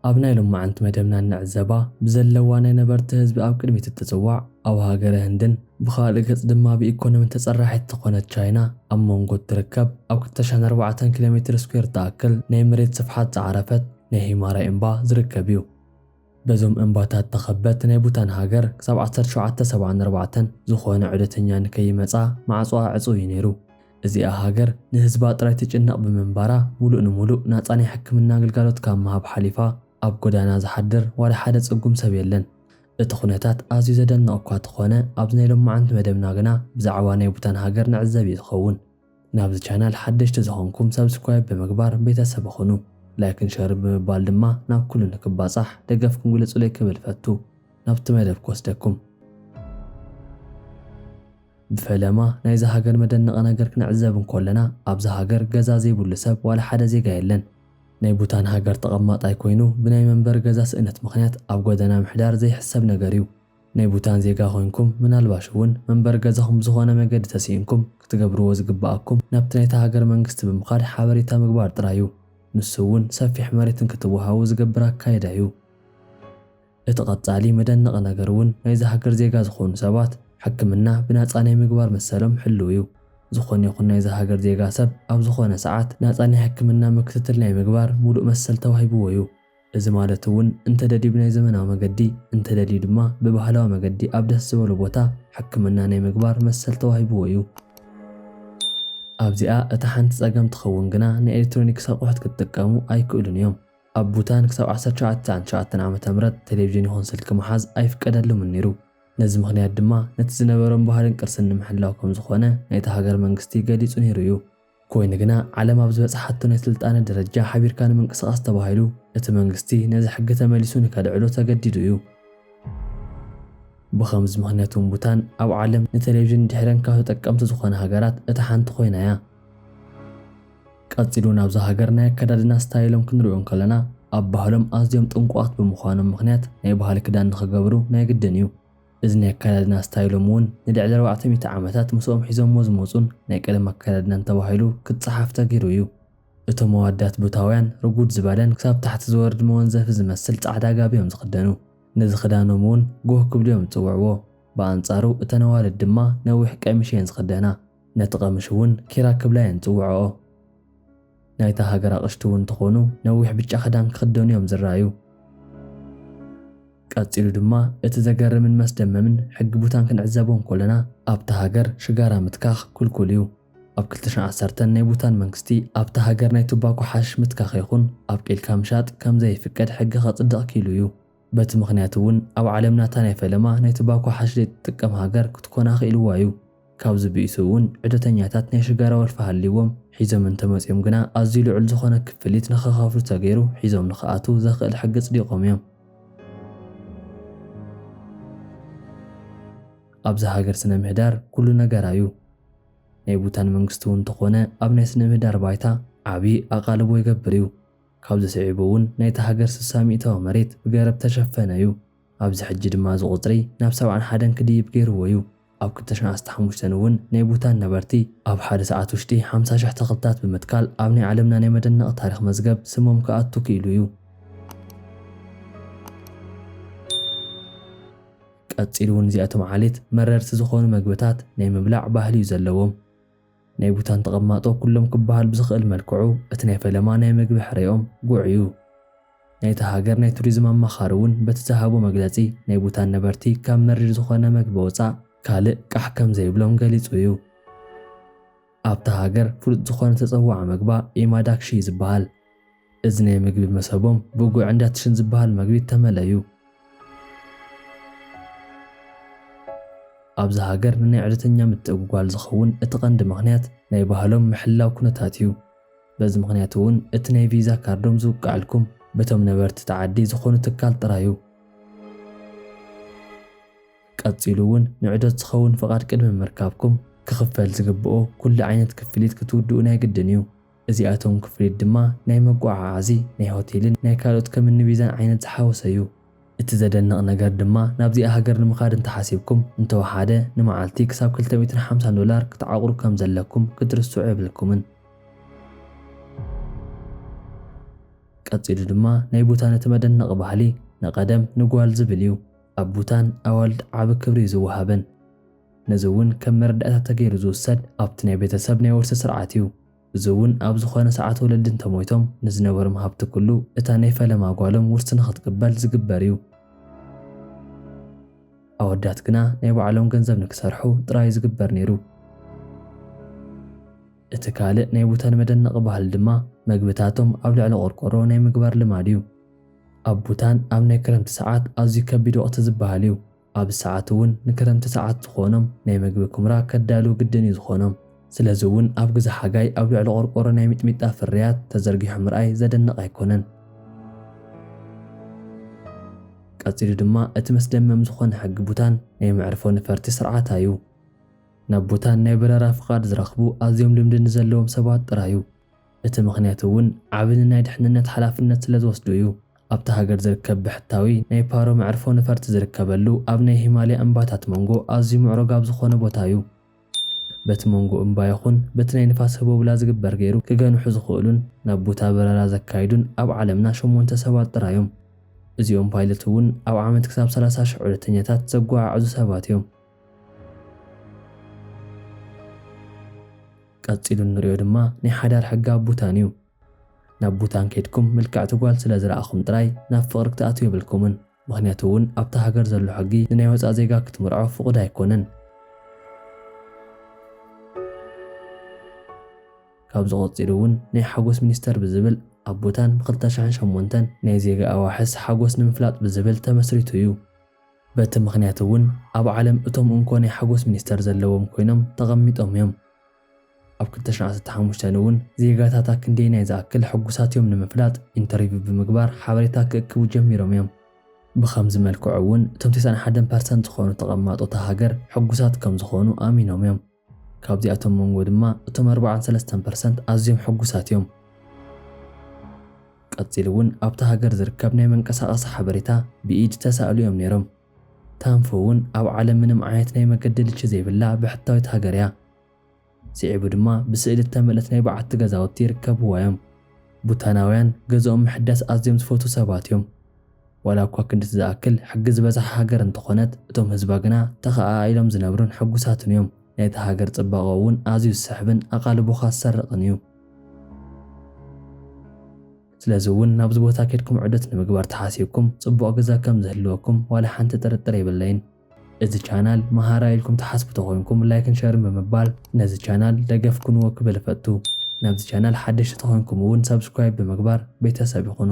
ኣብ ናይ ሎማዓንቲ መደብና እንዕዘባ ብዘለዋ ናይ ነበርቲ ህዝቢ ኣብ ቅድሚት እትጽዋዕ ኣብ ሃገረ ህንድን ብኻልእ ገጽ ድማ ብኢኮኖሚ ተጸራሒት ዝኾነት ቻይና ኣብ መንጎ እትርከብ ኣብ ክልተ ሽሕን ኣርባዕተን ኪሎሜትር ስኩዌር ትኣክል ናይ መሬት ስፍሓት ዝዓረፈት ናይ ሂማራይ እምባ ዝርከብ እዩ። በዞም እምባታት ተኸበት ናይ ቡታን ሃገር ክሳብ ዓሰርተ ሸውዓተ ሰብዓን ኣርባዕተን ዝኾነ ዑደተኛ ንከይመጽኣ ማዕጾኣ ዕጹው እዩ ነይሩ። እዚኣ ሃገር ንህዝባ ጥራይ ትጭነቕ ብምንባራ ሙሉእ ንሙሉእ ናጻ ናይ ሕክምና ግልጋሎት ካብ ምሃብ ሓሊፋ ኣብ ጎዳና ዝሓድር ዋላ ሓደ ጽጉም ሰብ የለን። እቲ ኩነታት ኣዝዩ ዘደንቕ እኳ ተኾነ ኣብዚ ናይ ሎምዓንቲ መደብና ግና ብዛዕባ ናይ ቡታን ሃገር ንዕዘብ እዩ ዝኸውን። ናብዚ ቻናል ሓደሽቲ ዝኾንኩም ሳብስክራይብ ብምግባር ቤተሰብ ኹኑ። ላይክን ሸርን ብምባል ድማ ናብ ኩሉ ንክባፃሕ ደገፍኩም ግለፁለይ ክብል እፈቱ። ናብቲ መደብ ክወስደኩም። ብፈለማ ናይዛ ሃገር መደነቒ ነገር ክንዕዘብ እንኮለና ኣብዛ ሃገር ገዛ ዘይብሉ ሰብ ዋላ ሓደ ዜጋ የለን። ናይ ቡታን ሃገር ተቐማጣይ ኮይኑ ብናይ መንበሪ ገዛ ስእነት ምኽንያት ኣብ ጎደና ምሕዳር ዘይሕሰብ ነገር እዩ። ናይ ቡታን ዜጋ ኮይንኩም ምናልባሽ እውን መንበሪ ገዛኹም ብዝኾነ መገዲ ተሲኢንኩም ክትገብርዎ ዝግበኣኩም ናብቲ ናይታ ሃገር መንግስቲ ብምኻድ ሓበሬታ ምግባር ጥራይ እዩ። ንሱ እውን ሰፊሕ መሬት እንክትወሃቡ ዝገብር ኣካይዳ እዩ። እቲ ቀጻሊ መደነቒ ነገር እውን ናይዛ ሃገር ዜጋ ዝኾኑ ሰባት ሕክምና ብናጻ ናይ ምግባር መሰሎም ሕሉው እዩ። ዝኾነ ይኹን ናይዛ ሃገር ዜጋ ሰብ ኣብ ዝኾነ ሰዓት ናጻ ናይ ሕክምና ምክትትል ናይ ምግባር ሙሉእ መሰል ተዋሂብዎ እዩ። እዚ ማለት እውን እንተደልዩ ብናይ ዘመናዊ መገዲ እንተደልዩ ድማ ብባህላዊ መገዲ ኣብ ደስ ዝበሎ ቦታ ሕክምና ናይ ምግባር መሰል ተዋሂብዎ እዩ። ኣብዚኣ እታ ሓንቲ ፀገም ትኸውን ግና ናይ ኤሌክትሮኒክስ ኣቑሑት ክትጥቀሙ ኣይክእሉን እዮም። ኣብ ቡታን ክሳብ ዓሰርተ ሸውዓተ ትስዓን ትሽዓተን ዓመተ ምህረት ቴሌቪዥን ይኹን ስልኪ ምሓዝ ኣይፍቀደሉምን ነይሩ። ነዚ ምኽንያት ድማ ነቲ ዝነበሮም ባህልን ቅርስን ንምሕላው ከምዝኾነ ናይታ ሃገር መንግስቲ ገሊፁ ነይሩ እዩ። ኮይኑ ግና ዓለም ኣብ ዝበጽሓቶ ናይ ስልጣነ ደረጃ ሓቢርካ ንምንቅስቓስ ተባሂሉ እቲ መንግስቲ ነዚ ሕጊ ተመሊሱ ንከልዕሎ ተገዲዱ እዩ። ብኸምዚ ምኽንያት እውን ቡታን ኣብ ዓለም ንቴሌቪዥን ድሒረን ካብ ተጠቀምቲ ዝኾና ሃገራት እታ ሓንቲ ኮይና እያ። ቀጺሉ ናብዛ ሃገር ናይ ኣከዳድና ስታይሎም ክንሪኦ እንከለና ኣብ ባህሎም ኣዝዮም ጥንቁቓት ብምዃኖም ምኽንያት ናይ ባህሊ ክዳን ንክገብሩ ናይ ግድን እዩ። እዚ ናይ ኣከዳድና ስታይሎም እውን ንልዕሊ ኣርባዕተ ሚእቲ ዓመታት ምስኦም ሒዞምዎ ዝመጹን ናይ ቀደም ኣከዳድናን ተባሂሉ ክጸሓፍ ተገይሩ እዩ። እቶም ኣወዳት ቡታውያን ርጉድ ዝበለን ክሳብ ታሕቲ ዝወርድ መወንዘፊ ዝመስል ጻዕዳ ጋቢ እዮም ዝኽደኑ። ነዚ ክዳኖም እውን ጎህ ክብሉ እዮም ዝጽውዕዎ። ብኣንጻሩ እተን ኣዋልድ ድማ ነዊሕ ቀሚሽ እየን ዝኽደና። ነቲ ቀምሽ እውን ኪራ ክብላ እየን ዝጽውዕኦ። ናይታ ሃገር ኣቕሽቲ እውን እንተኾኑ ነዊሕ ብጫ ክዳን ክኽደኑ እዮም ዝረኣዩ። ቀጺሉ ድማ እቲ ዘገርምን መስደመምን ሕጊ ቡታን ክንዕዘቦ እንኮለና ኣብታ ሃገር ሽጋራ ምትካኽ ኩልኩል እዩ። ኣብ ክልተ ሽሕን ዓሰርተን ናይ ቡታን መንግስቲ ኣብታ ሃገር ናይ ቱባኮ ሓሽሽ ምትካኽ ይኹን ኣብቂልካ ምሻጥ ከምዘይፍቀድ ሕጊ ከጽድቕ ኪኢሉ እዩ። በቲ ምኽንያት እውን ኣብ ዓለምና እታ ናይ ፈለማ ናይ ትባኮ ሓሽሊት እትጥቀም ሃገር ክትኮን ኣኽኢልዋ እዩ። ካብዚ ብኢሱ እውን ዑደተኛታት ናይ ሽጋራ ወልፊ ሃልይዎም ሒዞም እንተመፅዮም ግና ኣዝዩ ልዑል ዝኾነ ክፍሊት ንኽኸፍሉ ተገይሩ ሒዞም ንኽኣትው ዘኽእል ሕጊ ኣፅዲቖም እዮም። ኣብዛ ሃገር ስነ ምህዳር ኩሉ ነገራ እዩ። ናይ ቡታን መንግስቲ እውን እንተኾነ ኣብ ናይ ስነ ምህዳር ባይታ ዓብዪ ኣቓልቦ ይገብር እዩ። ካብዚ ስዒቡ እውን ናይታ ሃገር ስሳ ሚእታዊ መሬት ብገረብ ተሸፈነ እዩ። ኣብዚ ሕጂ ድማ እዚ ቁጽሪ ናብ ሰብዓን ሓደን ክድይብ ገይርዎ እዩ። ኣብ ክልተ ሽሕ ዓሰርተ ሓሙሽተ እውን ናይ ቡታን ነበርቲ ኣብ ሓደ ሰዓት ውሽጢ ሓምሳ ሽሕ ተኽልታት ብምትካል ኣብ ናይ ዓለምና ናይ መደነቒ ታሪኽ መዝገብ ስሞም ክኣቱ ክኢሉ እዩ። ቀጺሉ እውን እዚኣቶም ዓሌት መረርቲ ዝኾኑ መግብታት ናይ ምብላዕ ባህሊ እዩ ዘለዎም። ናይ ቡታን ተቐማጦ ኩሎም ክበሃል ብዝኽእል መልክዑ እቲ ናይ ፈለማ ናይ መግቢ ሕሬኦም ጉዕ እዩ። ናይታ ሃገር ናይ ቱሪዝም ኣማኻሪ እውን በቲ ዝሃቦ መግለጺ ናይ ቡታን ነበርቲ ካብ መሪር ዝኾነ መግቢ ወፃእ ካልእ ቃሕ ከምዘይብሎም ገሊፁ እዩ። ኣብታ ሃገር ፍሉጥ ዝኾነ ተፀዋዒ መግባ ኢማዳክሺ እዩ ዝበሃል። እዚ ናይ ምግቢ መሰቦም ብጉዕ እንዳትሽን ዝበሃል መግቢ እተመለዩ። ኣብዚ ሃገር ንናይ ዑደተኛ ምትእጉጓል ዝኸውን እቲ ቀንዲ ምኽንያት ናይ ባህሎም ምሕላው ኩነታት እዩ። በዚ ምኽንያት እውን እቲ ናይ ቪዛ ካርዶም ዝውቀዐልኩም በቶም ነበርቲ እቲ ዓዲ ዝኾኑ ትካል ጥራይ እዩ። ቀጺሉ እውን ንዑደት ዝኸውን ፍቓድ ቅድሚ ምርካብኩም ክኽፈል ዝግበኦ ኩሉ ዓይነት ክፍሊት ክትውድኡ ናይ ግድን እዩ። እዚኣቶም ክፍሊት ድማ ናይ መጎዓዓዚ፣ ናይ ሆቴልን ናይ ካልኦት ከም እኒ ቪዛን ዓይነት ዝሓወሰ እዩ። እቲ ዘደንቕ ነገር ድማ ናብዚኣ ሃገር ንምኻድ እንተሓሲብኩም እንተወሓደ ንመዓልቲ ክሳብ ክልተ ሚእትን ሓምሳን ዶላር ክትዓቑሩ ከም ዘለኩም ክትርስዑ የብልኩምን። ቀጺሉ ድማ ናይ ቡታን እቲ መደነቒ ባህሊ፣ ንቐደም ንጓል ዝብል እዩ። ኣብ ቡታን ኣዋልድ ዓቢ ክብሪ እዩ ዝወሃበን። ነዚ እውን ከም መረዳእታ ተገይሩ ዝውሰድ ኣብቲ ናይ ቤተሰብ ናይ ወርሲ ስርዓት እዩ። እዚ እውን ኣብ ዝኾነ ሰዓት ወለዲ እንተሞይቶም ንዝነበርም ሃብቲ ኩሉ እታ ናይ ፈለማ ጓሎም ውርሲ ንኽትቅበል ዝግበር እዩ። ኣወዳት ግና ናይ ባዕሎም ገንዘብ ንክሰርሑ ጥራይ እዩ ዝግበር ነይሩ። እቲ ካልእ ናይ ቡተን መደነቒ ባህሊ ድማ መግብታቶም ኣብ ልዕሊ ቆርቆሮ ናይ ምግባር ልማድ እዩ። ኣብ ቡታን ኣብ ናይ ክረምቲ ሰዓት ኣዝዩ ከቢድ ወቕቲ ዝበሃል እዩ። ኣብዚ ሰዓት እውን ንክረምቲ ሰዓት ዝኾኖም ናይ መግቢ ኩምራ ከዳልዉ ግድን እዩ ዝኾኖም። ስለዚ እውን ኣብ ግዘ ሓጋይ ኣብ ልዕሊ ቆርቆሮ ናይ ሚጥሚጣ ፍርያት ተዘርጊሑ ምርኣይ ዘደንቕ ኣይኮነን። ቀፂሉ ድማ እቲ መስደመም ዝኾነ ሕጊ ቡታን ናይ መዕርፎ ነፈርቲ ስርዓት ኣዩ። ናብ ቡታን ናይ በረራ ፍቓድ ዝረኽቡ ኣዝዮም ልምዲ ንዘለዎም ሰባት ጥራይ እዩ። እቲ ምኽንያት እውን ዓቢ ንናይ ድሕንነት ሓላፍነት ስለዝወስዱ እዩ። ኣብታ ሃገር ዝርከብ ብሕታዊ ናይ ፓሮ መዕርፎ ነፈርቲ ዝርከበሉ ኣብ ናይ ሂማልያ እምባታት መንጎ ኣዝዩ ምዕሩግ ኣብ ዝኾነ ቦታ እዩ። በቲ መንጎ እምባ ይኹን በቲ ናይ ንፋስ ህቦብላ ዝግበር ገይሩ ክገንሑ ዝኽእሉን ናብ ቡታ በረራ ዘካይዱን ኣብ ዓለምና ሸሞንተ ሰባት ጥራይ እዮም። እዚኦም ፓይለት እውን ኣብ ዓመት ክሳብ ሰላሳ ሽሕ ዑደተኛታት ዘጓዓዕዙ ሰባት እዮም። ቀጺሉ እንሪኦ ድማ ናይ ሓዳር ሕጊ ኣብ ቡታን እዩ። ናብ ቡታን ከይድኩም ምልክዕቲ ጓል ስለ ዝረኣኹም ጥራይ ናብ ፍቕሪ ክትኣትዉ የብልኩምን። ምኽንያቱ እውን ኣብታ ሃገር ዘሎ ሕጊ ንናይ ወጻእ ዜጋ ክትምርዖ ፍቑድ ኣይኮነን። ካብዚ ቀጺሉ እውን ናይ ሓጎስ ሚኒስተር ብዝብል ኣብ ቡታን ብ ክልተ ሽሕን ሸሞንተን ናይ ዜጋ ኣዋሕስ ሓጎስ ንምፍላጥ ብዝብል ተመስሪቱ እዩ። በቲ ምኽንያት እውን ኣብ ዓለም እቶም እንኮ ናይ ሓጎስ ሚኒስተር ዘለዎም ኮይኖም ተቐሚጦም እዮም። ኣብ ክልተ ሽሕ ዓሰርተ ሓሙሽተ እውን ዜጋታታ ክንደየናይ ዝኣክል ሕጉሳት እዮም ንምፍላጥ ኢንተርቪው ብምግባር ሓበሬታ ክእክቡ ጀሚሮም እዮም። ብኸምዚ መልክዑ እውን እቶም ቴስዓን ሓደን ፐርሰንት ዝኾኑ ተቐማጦ እታ ሃገር ሕጉሳት ከም ዝኾኑ ኣሚኖም እዮም። ካብዚኣቶም መንጎ ድማ እቶም ኣርብዓን ሰለስተን ፐርሰንት ኣዝዮም ሕጉሳት እዮም። ቀጺሉ እውን ኣብታ ሃገር ዝርከብ ናይ መንቀሳቐሲ ሓበሬታ ብኢድ ተሳእሉ እዮም ነይሮም። ታንፉ እውን ኣብ ዓለም ምንም ዓይነት ናይ መገዲ ልቺ ዘይብላ ብሕታዊት ሃገር እያ። ስዒቡ ድማ ብስእሊ እተመልእት ናይ በዓቲ ገዛውቲ ይርከብዋ እዮም። ቡታናውያን ገዝኦም ምሕዳስ ኣዝዮም ዝፈትዉ ሰባት እዮም። ዋላ እኳ ክንድቲ ዝኣክል ሕጊ ዝበዝሓ ሃገር እንተኾነት፣ እቶም ህዝባ ግና ተኸኣኣኢሎም ዝነብሩን ሕጉሳትን እዮም። ናይታ ሃገር ጽባቐኡ እውን ኣዝዩ ዝስሕብን ኣቓልቦኻ ዝሰርቕን እዩ። ስለዚ እውን ናብዚ ቦታ ኬድኩም ዑደት ንምግባር ተሓሲብኩም ፅቡቕ ግዘ ከም ዝህልወኩም ዋላ ሓንቲ ጥርጥር የብለይን። እዚ ቻናል መሃራይ ኢልኩም ትሓስቡ ተኾይንኩም ላይክን ሸርን ብምባል ነዚ ቻናል ደገፍ ኩንዎ ክብል እፈቱ። ናብዚ ቻናል ሓደሽቲ ተኾይንኩም እውን ሳብስክራይብ ብምግባር ቤተሰብ ይኹኑ።